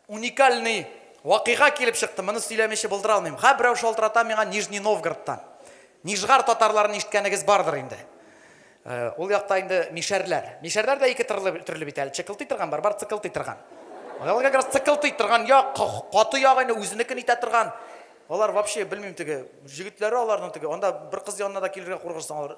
Уникальный вакыйга килеп чыкты, моны сөйләмичә булдыра алмыйм. Ха, берәү шалтырата миңа Нижний Новгородтан. Нижгар татарларын ишеткәнегез бардыр инде. Э, ул якта инде мишәрләр. Мишәрләр дә ике төрле, төрле бит әле. Чыкылтый торган бар, бар цыкылтый торган. Алар как раз цыкылтый торган як, каты ягы инде үзенекен итә торган. Алар вообще белмим теге, җегетләре аларның теге, анда бер кыз янына да килергә куркырсың алар.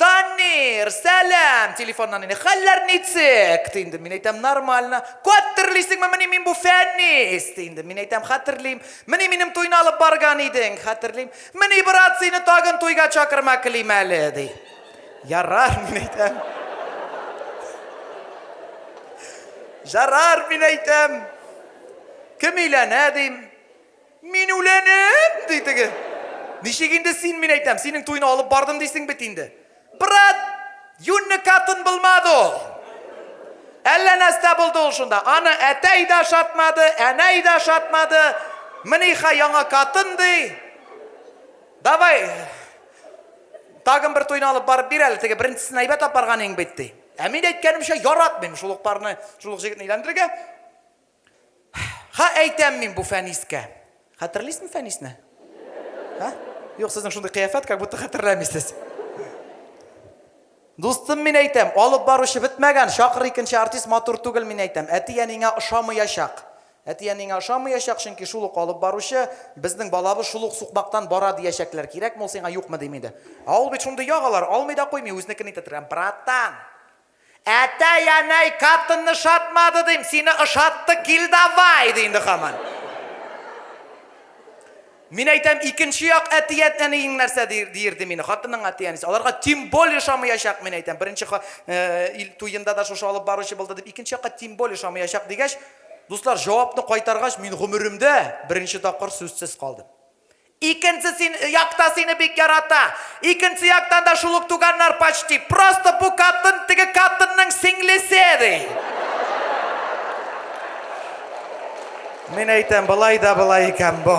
Данир, сәлам! Телефоннан инде, хәлләр ничек? ди инде. Мин әйтәм, нормально. Каттерлисеңме, мени мин бу Фәнис! ди инде. Мин әйтәм, хәтерлим. Мени минем туйны алып барган идең, хәтерлим. Мени, брат, сине тагын туйга чакырма клим әле, ди. Ярар, мин әйтәм. Жарар, мин әйтәм. Кем өйләнә, дим. Мин үләнем! ди теге. Ничек инде син, мин әйтәм, синең туйны алып бардым дисең бит инде. Брат, юньле катын булмады ул. Әллә нәрсә булды ул шунда. Аны әтәй дә шатмады, әнәй дә шатмады. Миниха яңа катын ди. Давай, тагын бер туйны алып барып бир әле, теге беренчесен әйбәт апарган иң бит, ди. Ә мин әйткәнемчә яратмыйм шул ук парны, шул ук җегетне өйләндерергә. Ха, әйтәм мин бу Фәнискә. Хәтерлисме Фәнисне? Ха? Юк, сезнең шундый кыяфәт, как будто хәтерләмисез. Дустым мин әйтәм, алып баручы бетмәгән, чакыр икенче артист матур түгел мин әйтәм. Әти-әнеңә ошамыячак. Әти-әнеңә ошамыячак, чөнки шул ук алып баручы, безнең балабыз шул ук сукмактан бара диячәкләр. Кирәкме ул сиңа, юкмы дим инде. Ә ул бит шундый ягалар, алмый да куймый, үзенекен итә торган. Братан! Әтәй, әнәй, катынны шатмады, дим, сине ошатты, кил давай, ди инде хаман. Мин әйтәм, икенче як әтият әниең нәрсә диерде мине, хатының әтиянесе. Аларга тем более шамыячак, мин әйтәм. Беренче э, ил туенда да шушы алып баручы булды дип, икенче якка тем более шамыячак дигәч, дуслар, җавапны кайтаргач, мин гомеремдә беренче тапкыр сүзсез калдым. Икенче син якта сине бик ярата. Икенче яктан да шул ук туганнар почти. Просто бу катын теге катынның сеңлесе, ди. Мин әйтәм, былай да былай икән бу.